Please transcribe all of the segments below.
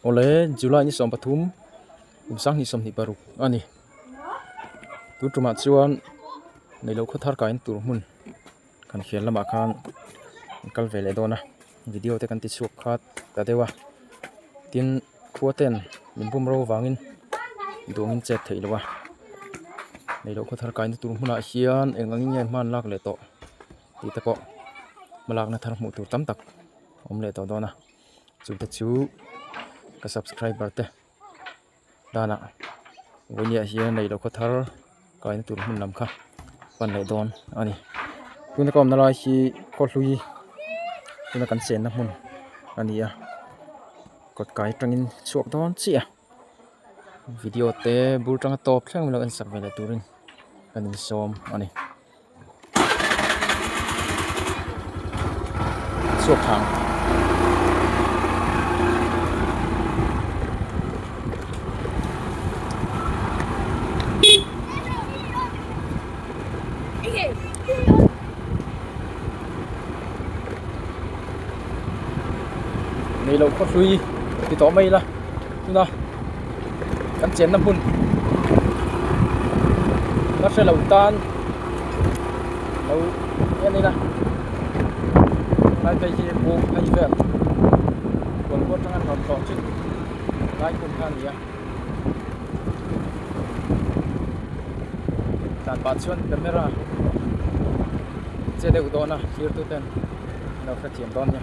Awle, July ni sawm pathum, kum sang ni sawm hnih paruk a ni. Tun tumah chuan neilo khaw thar kaiin tur hmun kan khel lamah khan kan kal ve leh dawn a, video te kan ti chhuak khat ta deuh a, tin khua ten min bawm ro vangin duang in chet theih lo a, neilo khaw thar kaiin tur hmunah hian eng ang in nge hman lak leh tawh tih te pawh hmalakna thar hmuh tur tam tak awm leh tawh dawn a. chute chu ka subscriber te tana vawinia hian neilo khaw thar kaihna tur hmun lam kha pan leh dawn a ni tuna ka awmna lai hi khaw hlui tuna kan chenna hmun a ni a kawt kai atangin chhuak dawn chiah a. video te bul tanga tawp thleng mai lo en sak ve leh turin kan insawm a ni chhuakhang. Hei lo khaw hlui ti tawh mai ila. tuna kan chenna hmun ka hrelo tan lo en ila tlai hi bawm phei vel huan ruat aṭang a ni hlawm tawh chih lai hmun kha a ni a tlan pah chuan camera che deuh dawn a thlir tu ten an lo hrethiam dawn nia.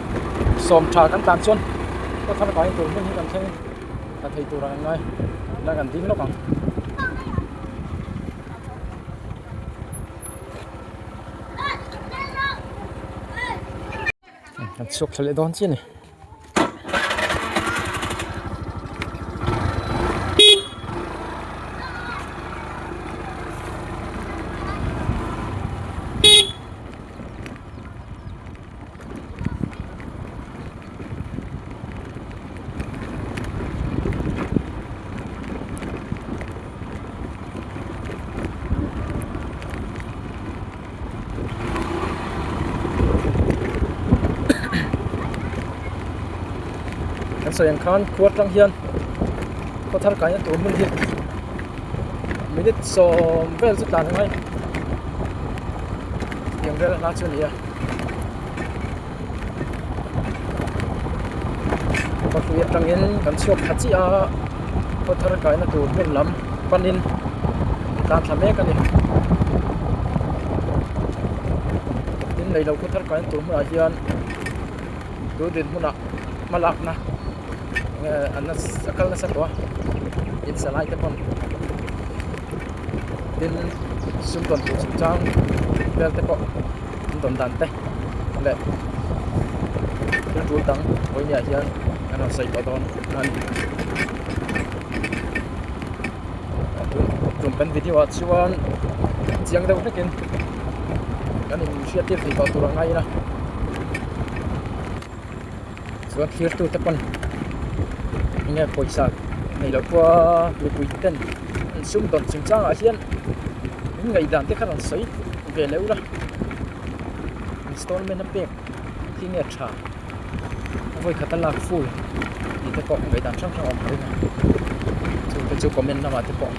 sawm tha kan tlan chuan khua thar kain tur hmun hi kan thleng a thei tur ang ngai la kan ding lawk ang kan chhuak thla leh dawn chian ni kan sawi ang khan khuar tlang hian khaw thar kaihna tur hmun hi minute sawm vel chu tlan ang ai inrel a hla chu a ni a. khawpui atangin kan chhuak thla chiah a khaw thar kaihna tur hmun lam panin a tlan thla mek a ni tin neilo khawthar kaihna tur hmunah hian tui rinhmun ah hma lakna-- an a kal nasa tawh a in salai te pawn tin sum dawn tur chu chang vel te pawh an dawn dan te leh thil tul dang pawimawh ah hian an rawn sawi tawh dawn a ni chung kan video ah chuan chiang deuh hlekin kan in hriat tir thei tawh tur ang a ila. chuan thlir tu te pawn enge pawisa nei loh pua mipui ten an sum dawn chhung chang ah hian an ngaihdan te khan an sawi ve loh la installment a pek khi nge tha a vawi khat a lak ful tih te pawh ngaihdan hrang hrang a awm reng a chung te chu comment lamah te pawh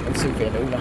kan sawi ve loh la.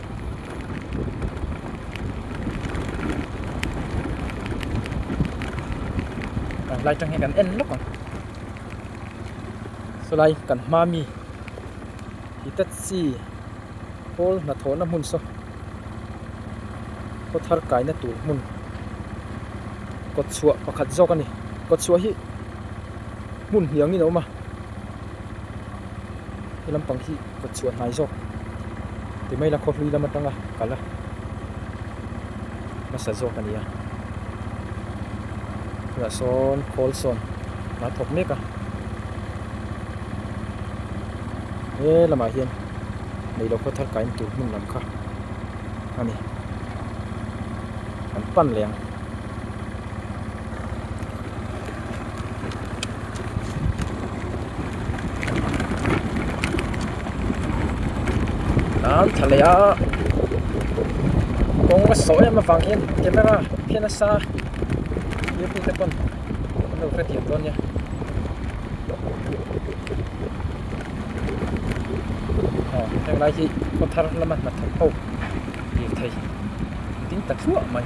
lai tang hian kan en lawk a chulai kan hma mi Hitachi coal hnathawh na hmun saw kawthar kai na tur hmun kawt chhuah pakhat zawk a ni kawt chhuah hi hmun hniangin a awm a he lampang hi-- ka chhuah hnai zawk ti mai la khawhlui lam atanga kal a hmasa zawk a nia tunah sawn khawl sawn hna thawk mek a he lamah hian neilo khaw thar kain tur hmun lam kha a ni kan pan leh ang. lam tha leh a kawng a sawh em avang hian camera khen a sa earphone te pawn an lo hre tiam dawn nia aw heng lai hi khaw thar lama hnathawh ho lirthei ding ta thluah mai.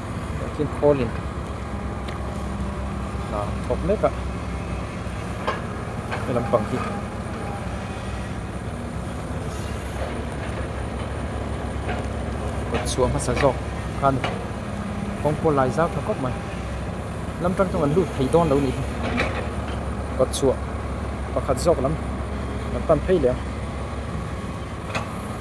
engkim khawlin hna thawk mek a, he lampang hi kawtchhuah hmasa zawk khan kawngpawh lai zau tha khawp mai, lam tang chu an lut thei dawn lo nih hi, kawtchhuah pakhat zawk lam kan pan phei leh ang.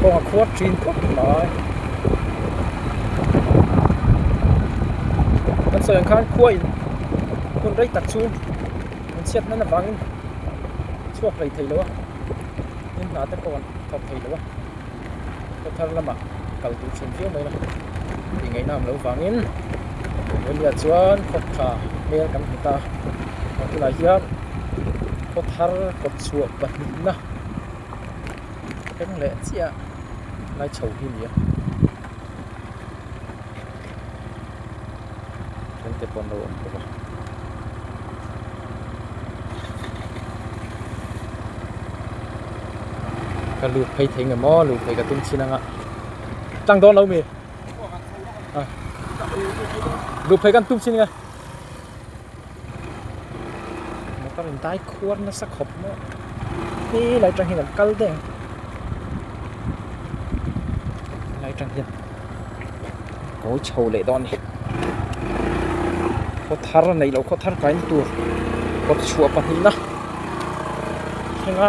kawng a khuar thin tawp mai kan sawiah khan khua in hun rei tak chu an chhiat nana vangin chhuak hlei thei lo a hnim hnah te pawh an thawk thei lo a. ka thar lamah kal duh thin viau mai la tih ngaihna ang lo vangin Australia chuan khaw tha hmel kan hmu ta a tunah hian khaw thar kawt chhuah pahnih na eng leh chiah lai tho hi a ni a. Then te pawh an lo awm bawk a. ka luk phei thei ngemaw luk phei ka tum chin anga tlang don lo mi luk phei kan tum chin nga motor in dai khuar nasa khawp maw he lai tang hian an kal daih ang lai tang hian kawi chho leh dawn a ni khaw thar a nei loh khaw thar kaihna tur kawtchhuah pahnihna thenga.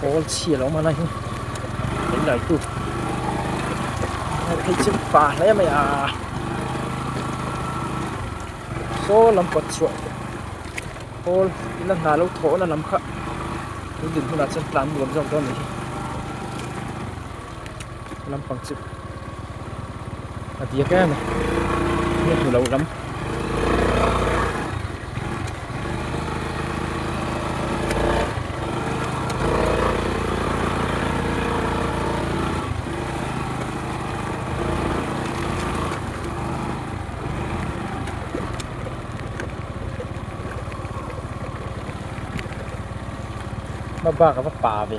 Pawl chhia lo man a hi an laitu hei chu pa hle mai a saw lam kawt chhuah pawl ina hna lo thawhna lam kha tun dinhmunah chuan tlan nuam zawk dawn a ni. lampang chu a diak em a ni hmu lo lam bak a va pa ve.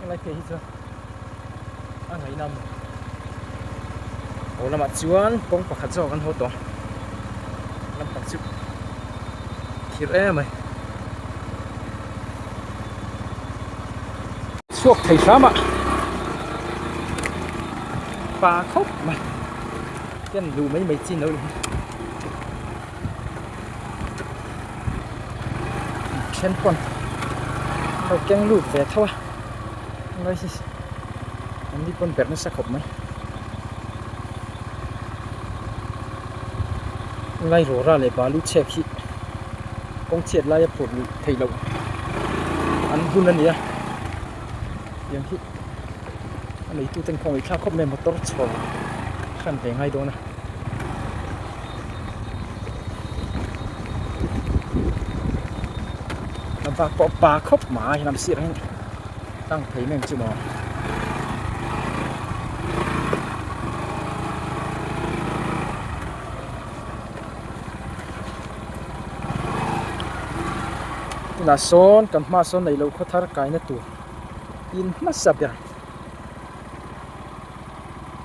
Helai te hi chuan a ngai na maw Aw lamah chuan kawng pakhat zawk an haw tawh lampang chu thir em mai chhuak thei hram a pa khawp mai ken duh mai mai chin lo ni hi then pawn lo keng lut ve tho a ngai hi an ni pawn ber nasa khawp mai ngai rawra leh balu chhek hi kawng chhiat laia phur luh theih loh an hun a ni a tiang hi a neitu ten khawngaih thla khawp mai motor chhawng hran ve ngai dawn a. lam vak pawh pa khawp mai lam sirah hian tlang phei mai ang chu maw tunah sawn kan hmaah sawn neilo khawthar kaihna tur in hmasa ber.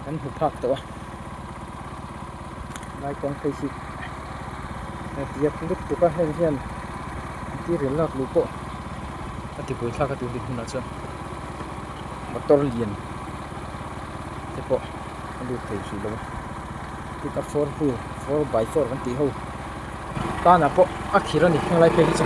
kan hmu phak tawh a vai kawng phei hi a tiak duk duk a heng hian material lak luh pawh a ti buai thlak a tun din hunah chuan motor lian te pawh a lut thei hrih lo a four wheel four by four kan tih ho tanah pawh a khir a ni heng lai phei hi chu.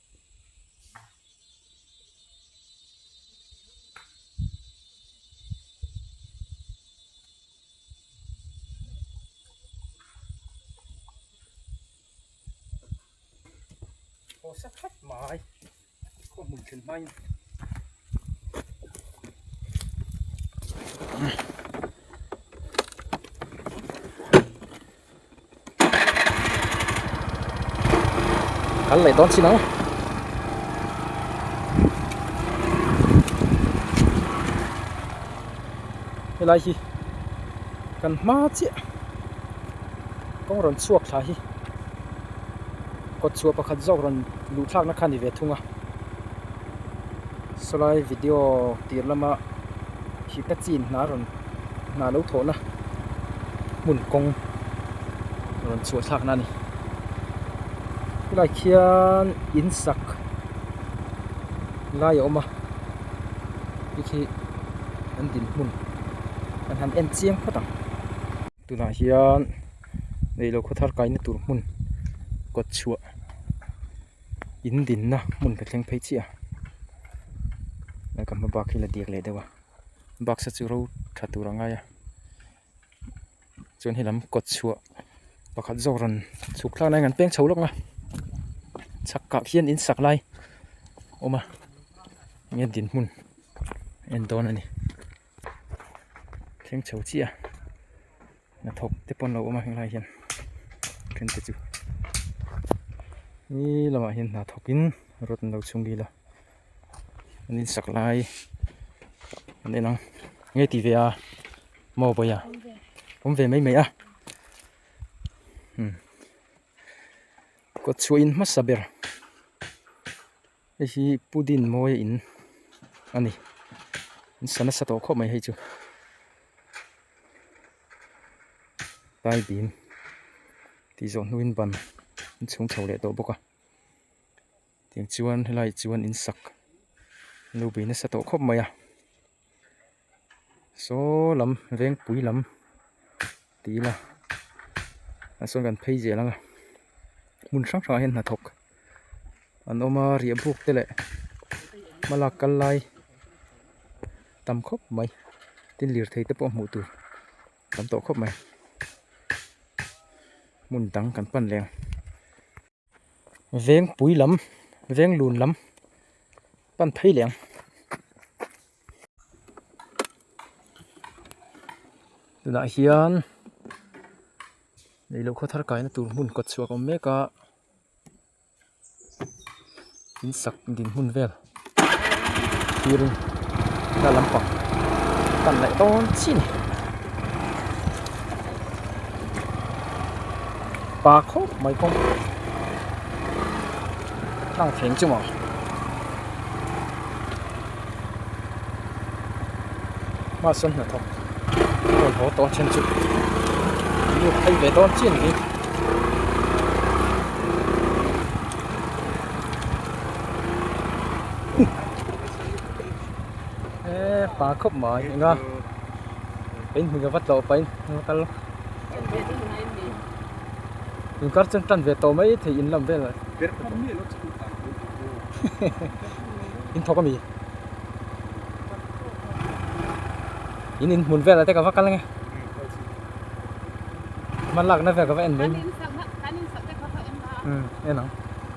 Khawh sa khat mai khawh hmun thin mai kal leh dawn chinang helai hi kan hma chiah kawng rawn chhuak thla hi kawt chhuah pakhat zawk rawn luh thlak na kha ni ve thung a saw lai video tir lama hita chin hna rawn-- hna lo thawhna hmun kawng rawn chhuahthlakna a ni khilaiah khian in sak lai a awm a hei khi an din hmun an han en chiang phawt ang tunah hian neilo khawthar kaihna tur hmun kawt chhuah in dinna hmun ka thleng phei chiah a kan hmabak hi la dik leh deuh a. baksa chu ro tha tur a ngai a chuan helam kawt chhuah pakhat zawk rawn chhuk thlak nai a rawn peng chho lawk a chhak kah khian in sak lai a awm a enge dinhmun a en dawn a ni thleng chho chiah a. hnathawk te pawh an lo awm a helai hian then te chu he lamah hian hna thawk in rod an lo chhung bil a an in sak lai an en ang enge tih ve a maw vawi a awm ve mai mai a kawtchhuah in hmasa ber. Hei hi pudin mawi in a ni sa nasa tawh khawp mai hei chu tlai bim tih zawh hnuin ban in chhung chho leh tawh bawk a tiang chuan helai chuan in sak lo be nasa tawh khawp mai a. saw lam vengpui lam tih ila ah sawn kan phei zel anga hmun hrang hrangah hian hnathawk an awm a riahbuk te leh hma lak kal lai tam khawp mai tin lirthei te pawh hmuh tur tam tawh khawp mai hmun dang kan pan leh ang. vengpui lam venglun lam pan phei leh ang tunah hian leiloh khawthar kaihna tur hmun kawtchhuak awm mek a in sak dinhmun vel. thir in thla lampang tan laih dawn chin a pa khawp mai kawng tlang feng chu mawh mahse hnathawk rawn haw tawh a then chu lut phei ve dawn chin a ni. e pa khop mai nga in hming vat lo pain nga kal in kar chen tan ve to mai thei in lam vel in thok ami in in hmun vel ate ka va kal nge man lak na ve ka va en mai kan in sak na kan in sak te ka va en ta en ang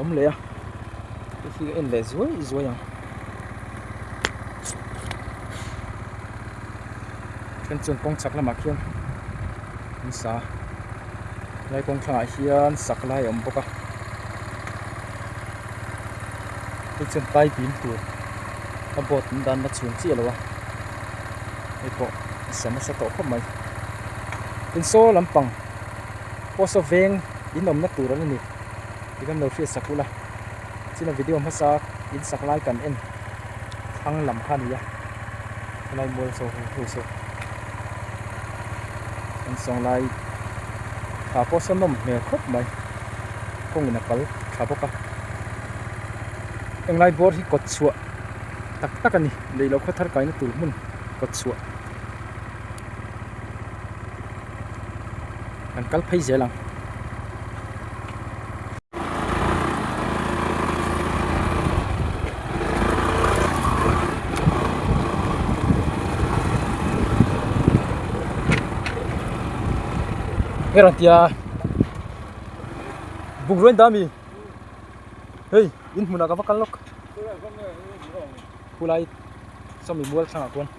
awm leh a a hi a en leh zuai zuai ang then chuan kawng chak lamah khian an sa a helai kawng thlangah hian sak lai a awm bawk a hei chuan pai pin tur a boat an dan na chhun chiah lo a hei pawh a sa nasa tawh khawp mai tin saw lampang-- Pawsa veng in awmna tur an ni tih kan lo hriat sak hul a, China video hmasa in sak lai kan en thlang lam kha nia, khawlai mual so hung hlu se kan sawng lai thla pawsa nawm hmel khawp mai kawngin a kal tha bawk a, Englai bawr hi kawtchhuah tak tak a ni, leihloh khawthar kaina tur hmun kawtchhuah. kan kal phei zel ang hera tia buk ruin dami hei in hmunah ka va kal lawk khulai sawmi bual thlangah chuan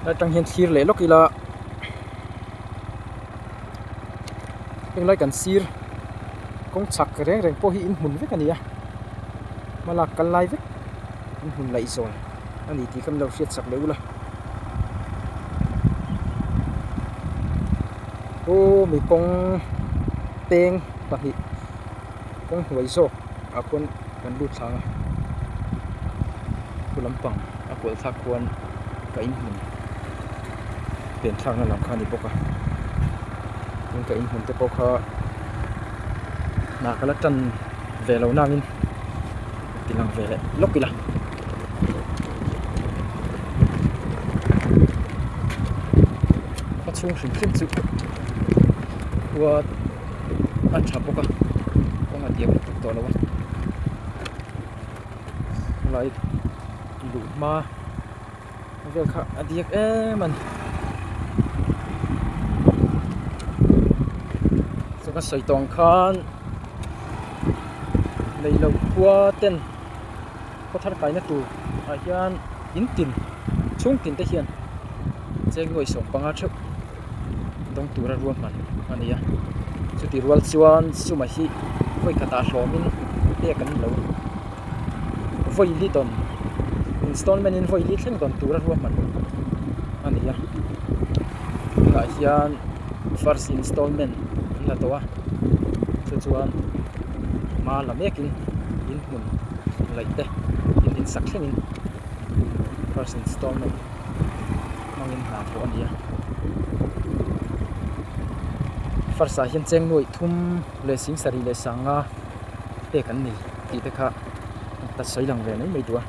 helai atang hian thlir leh lawk ila heng lai kan sir kawng chak reng reng pawh hi in hmun vek a ni a hma lak kal lai vek in hmun laih zawng a ni tih ka mi lo hriat chak leh ula aw mi kawng peng pahnih-- kawng hnuai zawk ah khuan kan lut thlang a, khua lampang a kual thlak khuan ka inhmun pen thlak na lam kha a ni bawk a, tin ka inhmun te pawh kha hnah ka la tan ve lo nang in ka ti lang ve leh lawk ila. Khua chhung hrim hrim chu khua-- a tha bawk a kawng a tiang ṭuk tawh lo a khawlai luh hma vel kha a diak em a ni chuan ka sawi tawng khan lei lo khua ten khaw thar kaihna tur ah hian in tin chhungtin te hian cheng nuaih sawm panga ṭheuh-- dawng tura ruahman a ni a chuti rual chuan sumah hi vawi khatah hlawmin pek an lo vawi li dawn installment in vawi li thleng dawn tura ruahman a ni a tunah hian first installment an la tawh a chu chuan hma la mekin inhmun laih te insak thlengin first installment -- hmangin hlan tawh a nia first ah hian chengnuaih thum leh singsarih leh sanga pek an ni tih te kha a hla sawi lang ve mai mai tua.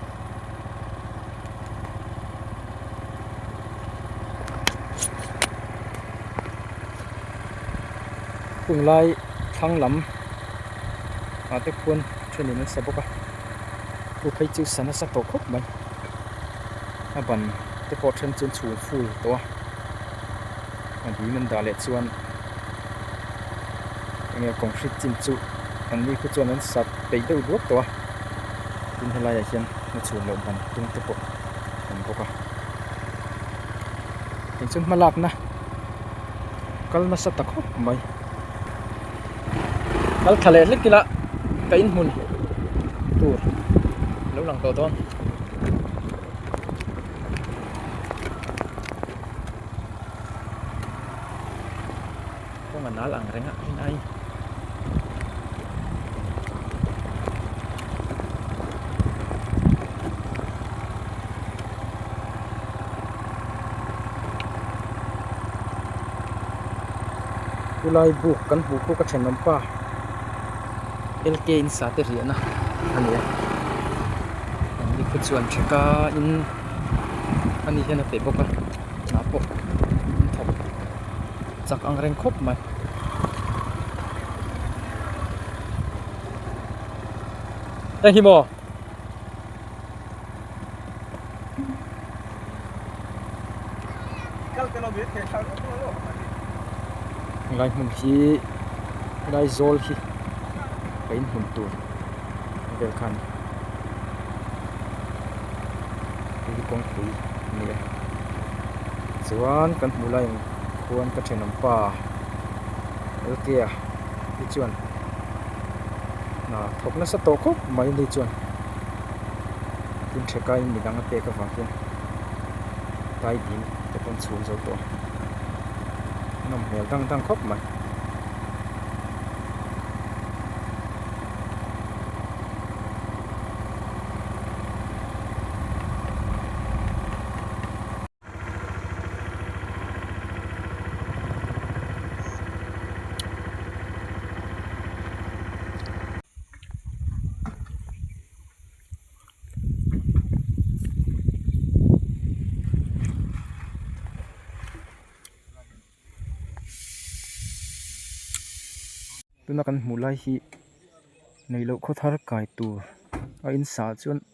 Kung lai thlang lam ah te khuan thenin an sa bawk a, khu phei chu sa nasa tawh khawp mai. a ban te pawh then chu an chhung full tawh a a bim an dah leh chuan enge concrete chin chu an ni pawh chuan an sat peih deuh duak tawh a tin helai ah hian hna chhun loh ban tum te pawh a awm bawk a tichuan hma lak na kal nasa ta khawp mai. kal tha leh hlek ila ka in hmun tur lo lang tawh dawn kawng a nal ang reng a heng ai Chulai buk kan hmuh bawk a thenawm pa lk in sate riahna a ni a an ni khaw chuan theka in a ni hian a pe bawk a hna pawh an thawk chak ang reng khawp mai. helai hmun hi helai zawl hi ka in hmun tur vel kha a ni hei hi kawngpui a ni a chuan kan hmuh laiin khuan ka thenawm pa lalkia. Ni chuan hna thawk nasa tawh khawp mai ni chuan tin hre kai in midang a pek avang hian tai bîm te pawh an chhun zo tawh a a nawm hmel dang dang khawp mai tuna kan hmuh lai hi neilo khawthar kai tur a insa chuan--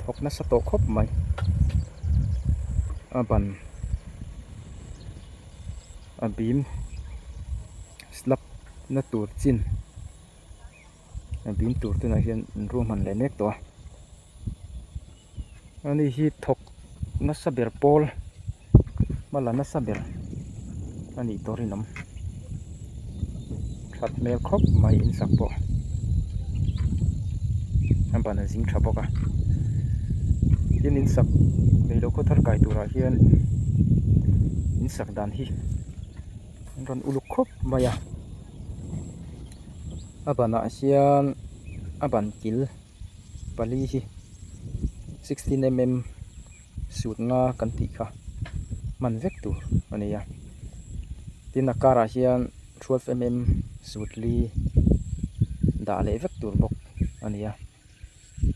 thawk nasa tawh khawp mai a ban a bim slab na tur chin a bim tur tunah hian in ruahman leh mek tawh a ani hi thawk-- nasa ber pawl hmala nasa ber a nih tur in awm that hmel khawp mai in sak pawh a ban a zing tha bawk a tin in sak neilo khaw thar kai tur ah hian in sak dan hi an rawn uluk khawp mai a a ban ah hian a ban kil-- pali hi sixteen mm suit nga kan tih kha hman vek tur a ni a tin a karah hian twelve mm suit li dah leh vek tur bawk a ni a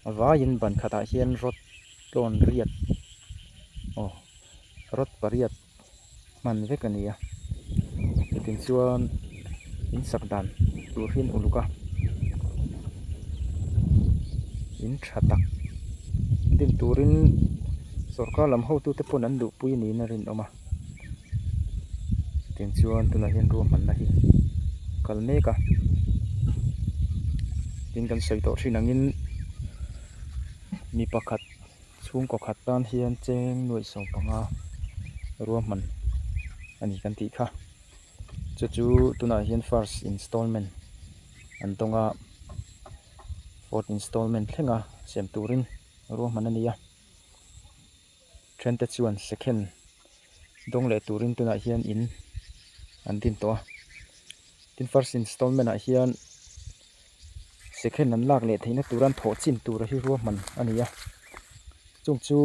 a vaiin ban khatah hian rod tlawn riat aw rod pariat-- hman vek a ni a, chutin chuan in sak dan tur hi an uluk a, in tha tak din turin sawrkar lam ho tute pawn an luhpui niin a rinawm a, chutin chuan tunah hian ruahmanna hi a kal mek a, tin kan sawi tawh thin angin mi pakhat-- chhungkaw khat tan hian cheng nuaih sawm panga ruahman a ni kan tih kha chu chu tunah hian first instalment an dawng a fourth instalment thlenga siam turin ruahman a ni a then te chuan second dawng leh turin tunah hian in an din tawh a tin first instalment ah hian Second an lak leh theihna tura an thawh chin tura hi ruahman a ni a, chung chu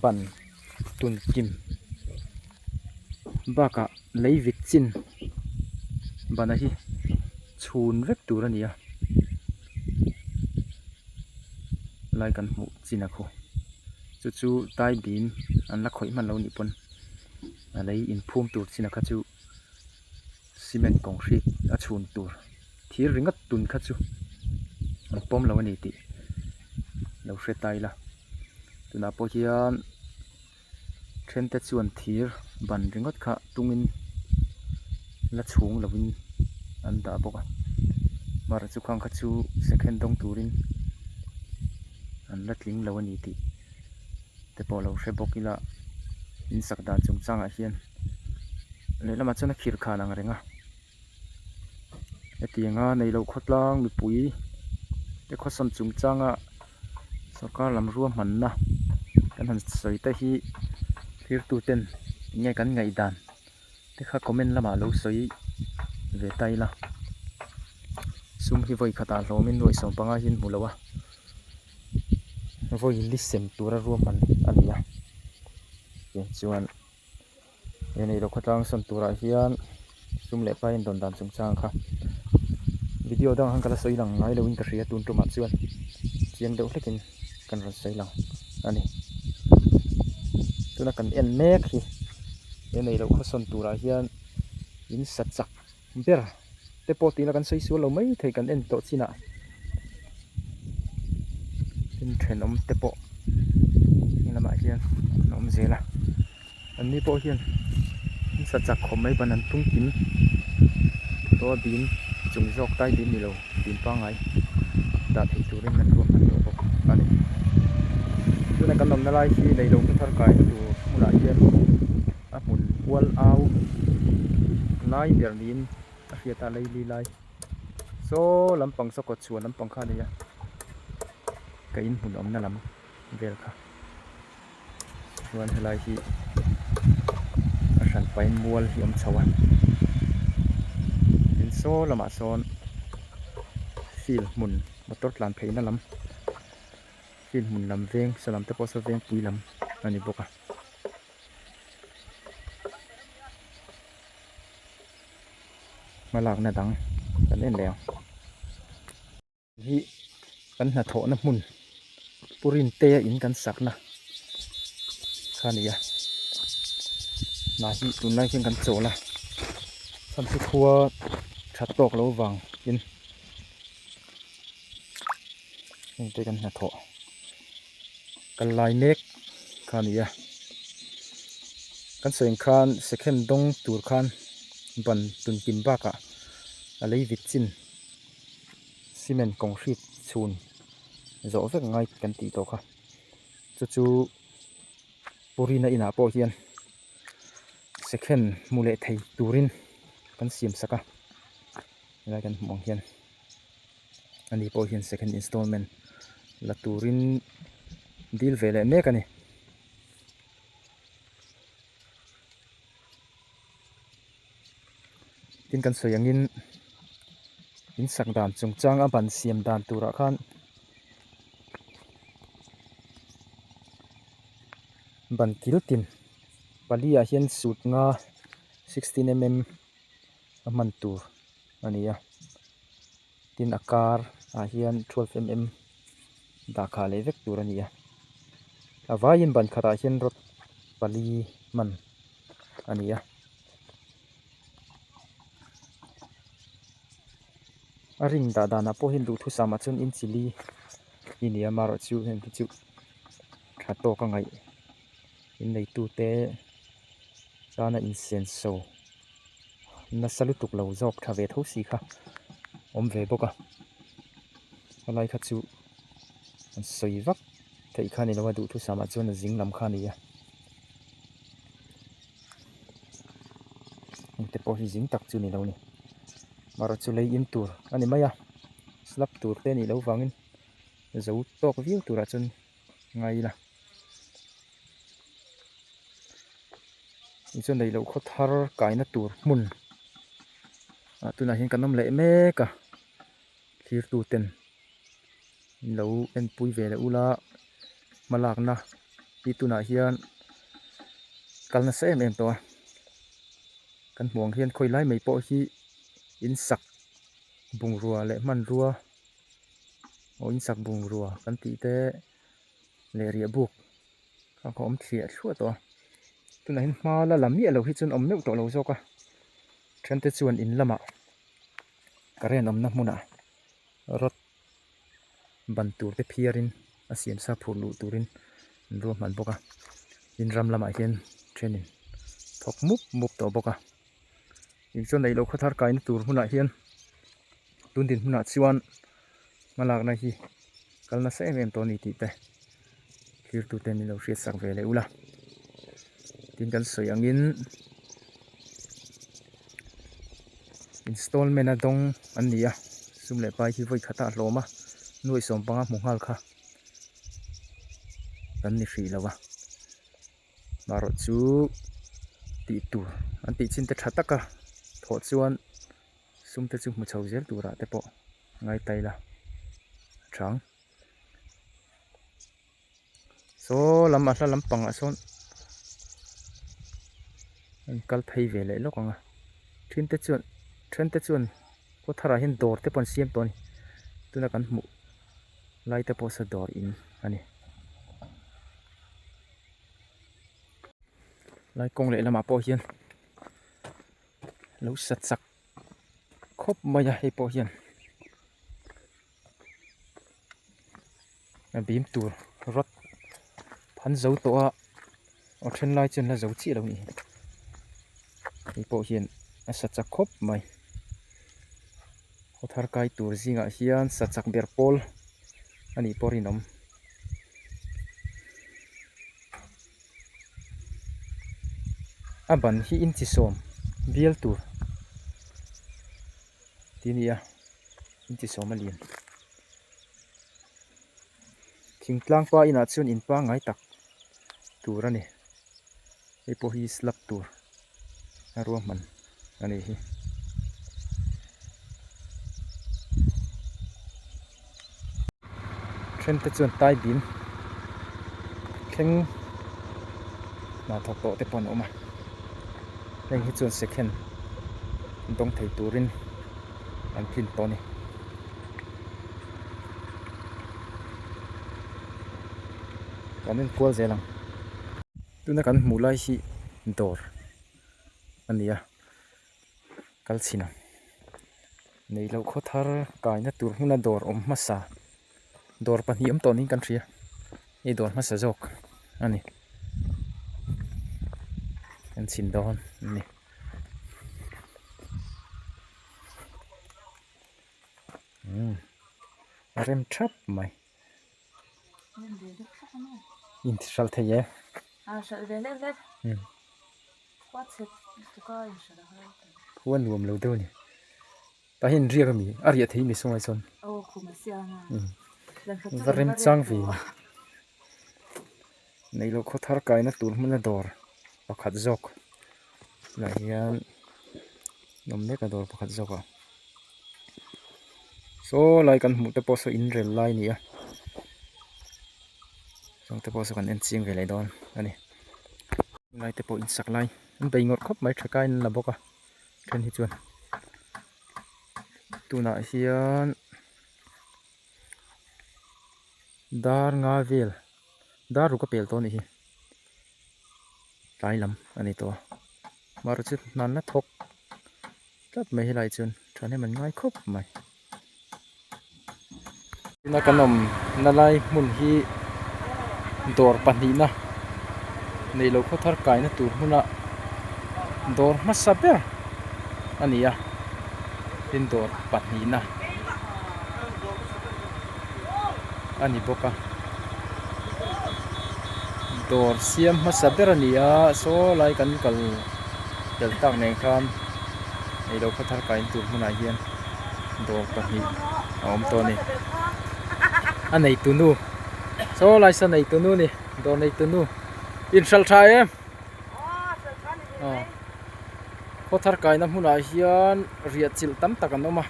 ban tun kim bakah lei vit chin bana hi chhun vek tur a ni a, lai kan hmuh chin a khaw chu chu taibin an la khawih hman loh a nih pawn a lei inphum tur chin a kha chu-- cement concrete a chhun tur thir ringawt tun kha chu an pawm lo a ni tih lo hriat a ila tunah pawh hian then te chuan thir ban ringawt kha tung in la chhung lo in an dah bawk a mar chu kha chu second dawng turin an la tling lo a ni tih-- te pawh lo hre bawk ila in sak dan chung changah hian lehlamah chuan a khirh kha an ang reng a hetianga neilo khawtlang mipui te khawsawm chung changa sawrkar lam ruahmanna kan han sawi te hi thlir tu ten nge kan ngaihdan te kha comment lamah lo sawi ve ta ila sum hi vawi khatah hlawmin nuaih sawm pangai hian hmu lo a. vawili sem tura ruam han a ni a tiang chuan he neilo khawtlang sawn turah hian tum leh paiin rawn dan chung chang kha video dang han kal a sawi lang ngai lo in ka hria tun tumah chuan chiang deuh hlekin kan rawn sawi lang a ni tuna kan en mek hi he neilo khawsawn turah hian in sa chak-- Ber te pawh tihna kan sawi sual lo mai thei kan en tawh chinah hnim thenawm te pawh heng lamah hian an awm zel a anni pawh hian hlim sa chak khawp mai ban an tum kim tawh a bîm chung zawk tai bîm nilo bîm pangngai dah theih turin an ruak hman tawh bawk a ni tuna kan awmna lai hi leilotu thar kaitu hmunah hian-- a hmun kual au a lai ber niin a hriat a lei li lai saw lampang saw kawtchhuah lampang kha a nei a ka in hmun awmna lam vel kha chuan helai hi a hran fai mual hi awm chho a tin saw lamah sawn field hmun motor tlan pheihna lam field hmun lam veng salam te pawh saw vengpui lam a ni bawk a. hma lakna dang kan en leh ang hi kan hnathawhna hmun purin te a in kan sakna kha a ni a mah hi tun lai khian kan chawl a samsi khua that tawk lo vang in heng te kan hnathawh. Kal lai nek kha a ni a, kan seng khan second dawng tur khan ban tun pin bakah a lei vit chin cement concrete chhun zawh vek ngai kan tih tawh kha. Chu chu Purina inah pawh hian second hmu leh thei turin kan siam sak a, helai kan hmuh ang hian. ani pawh hian second installment la turin deal ve leh mek a ni. Tin kan sawi angin in sak dan chung changa ban siam dan turah khan ban kil tin pali ah hian sut nga sixteen mm a hman tur. a ni a tin a kar ah hian twelve mm dah kah leh vek tur a ni a a vaiin ban khatah hian rod pali hman a ni a a ring dah danah pawh hian duhthusam ah chuan in chili i ni a marawh chu heng te chu tha tawk a ngaih. inneitute chana insiam so nasa lutuk lo zawk tha ve tho si kha awm ve bawk a helai kha chu an sawi vak theih kha nilo a duhthusam ah chuan a zing lam kha a ni a hmute pawh hi zing tak chu nilo a ni mahra chu lei in tur a ni mai a slab tur te nih loh vangin zo tawk viau tur ah chuan-- ngai ila inchung neilo khaw thar kaina tur hmun ah tunah hian kan awm leh mek a thlir tu ten in lo en pui ve leh ula hma lakna hi tunah hian kal nasa em em tawh a kan hmuh ang hian khawi lai mai pawh hi in sak bungrua leh hmanrua-- aw insak bungrua kan tih te leh riahbuk kha ka awm thliah thluah tawh a tunah hin hma la la miah loh hi chuan awm meuh tawh lo zawk a then te chuan in lamah current awmna hmunah rod ban tur te phiar in a siam sa phurh luh turin an ruahman bawk a tin ram lamah hian thenin thawk mup mup tawh bawk a. Kei chuan neilo khaw thar kaina tur hmunah hian tun din hmunah chuan hma lakna hi kal nasa em em tawh a ni tih te thlir tu ten min lo hriat sak ve leh ula tin kan sawi angin installment a dawng an ni a sum leh pai hi vawi khata a hlawm a nuaih sawm panga hmu nghal kha kan ni hrih lo a. Marawh chu tih tur an tih chin te tha tak a thawh chuan sum te chu hmu chho zel tur ah te pawh a ngai ta ila a chang saw lam a hla lam pang ah sawn a in kal phei ve leh lawk ang a then te chuan then te chuan pawh thar ah hian dawr te pawh an siam tawh a ni tuna kan hmuh lai te pawh saw dawr in a ni. Lai kawng leh lamah pawh hian lo sa chak khawp mai a hei pawh hian a bim tur rawt phan zo tawh a a then lai chuan la zo chiah lo ni hi hei pawh hian a sa chak khawp mai. Thar kai tur zingah hian sa chak ber pawl a nih pawh a rinawm. A ban hi in chi sawm bial tur tih a ni a, in chi sawm a lin. Thing tlangpa inah chuan in pangngai tak tur a ni. hei pawh hi slab tur a ruahman a nih hi then te chuan tai bim thleng hnah thawk tawh te pawh an awm a heng hi chuan second dawng thei turin an tlin tawh a ni. kan in kual zel ang tuna kan hmuh lai hi dawr a ni a kal chhin ang nei loh khaw thar kai na tur hmuna dawr awm hmasa dawr pahnih awm tawh niin kan hria hei dawr hmasa zawk a ni kan chhin dawn a ni. umm a rem thap mai inti hral thei e umm khua nuam lo deuh a ni tah hian inriak a mi a riah theih mi sawngai sawn umm va rem chang ve a ni. Neilo khaw thar kaina tur hmuna dawr pakhat zawk lah hian nawm mek a dawr pakhat zawk a saw lai kan hmuh te pawh saw inrel lai a ni a zawng te pawh saw kan en chiang ve leh dawn a ni lai te pawh in sak lai bei ngawt khawp mai tha ka in la bawk a then hi chuan tunah hian dar nga vel. dar ru ka pel tawh a nih hi tlai lam a ni tawh a mah ru chu hnan la thawk tlat mai hi lai chuan thahnem an ngai khawp mai tuna kan awm na lai hmun hi dawr pahnihna neih loh khawthar kaihna tur hmuna dawr hmasa ber a ni a tin dawr pahnihna. a ni bawk a dawr siam hmasa ber a ni a saw lai kan kal tel tak nen khan hei lo khatha ka in tur hmunah hian dawr pahnih a awm tawh a ni a nei tunu saw lai saw nei tunu a ni dawr nei tunu inhral tha em aw khawthar kaihna hmunah hian riahchilh tam tak an awm a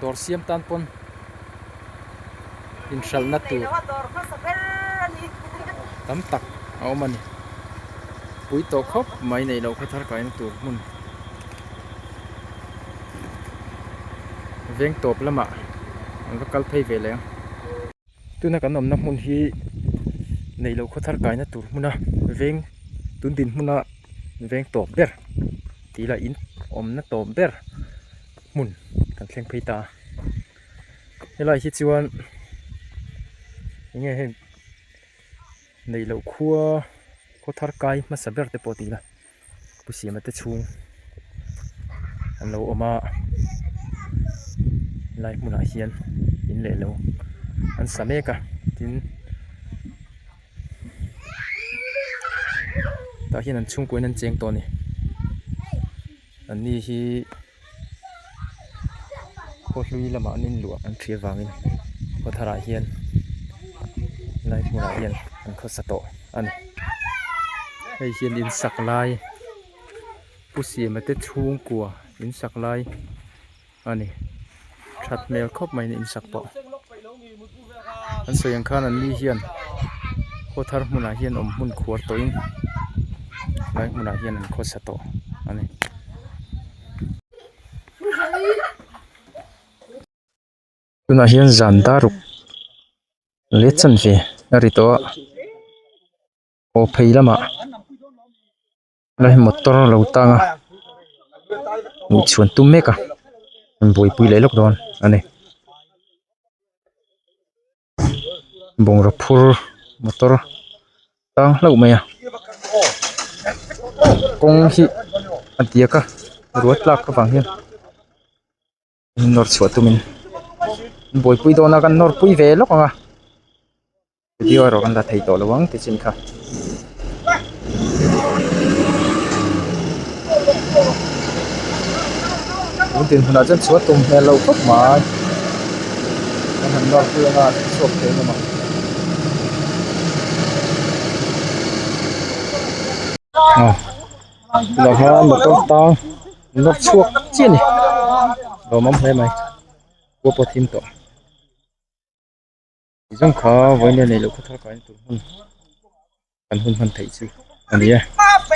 dawr siam tan pawn-- inhralhna tur tam tak a awm a ni pui tawh khawp mai neih loh kha thar kai na tur hmun veng tawp lamah an va kal phei ve leh ang. tuna kan awmna hmun hi neih loh khawthar kaihna tur hmuna veng tun din hmuna veng tawp ber tih ila in awmna tawp ber hmun kan thleng phei ta a helai hi chuan enge heng neih loh khua khawthar kai hmasa ber te pawh tih ila. pu siama te chhung an lo awm a helai hmunah hian in leh lo an sa mek a tin tah hian an chhungkua in an cheng tawh a ni an ni hi-- khawhlui lamah an inluah an ṭhi avangin khawtharah hian lai hmunah hian an khawsa tawh a ni hei hian insak lai pu siam te chhungkua insak lai a ni ṭhat hmel khawp mai in insak tawh. an sawi ang khan an ni hian khaw thar hmunah hian awm hmun khuar tawhin helai hmunah hian an khawsa tawh a ni. tunah hian zan dar ruk leh chan hle a ri tawh a aw phei lamah. hei motor lo tang a ih chhuan tum mek a rawn buaipui leh lawk dawn a ni bungraw phur motor tang hlauh mai a kawng hi a diak a rual tlak ka vang hian. min nawr chhuah tumin min buaipui dawn a kan nawr pui ve lawk ang a video erawh kan la thei tawh lo ang te chin kha. Tum tin huna chen chua tum hmel lo khawp mai. Kan han nawr pui anga an chhuak thei em ang. Oh. Loha motor tang nawk chhuak chiah a ni lawmawm hle mai pawh pawh thim tawh chi zawng kha vawiin a neih loh kha thar kain tûr hun kan hun han theih chu a ni e.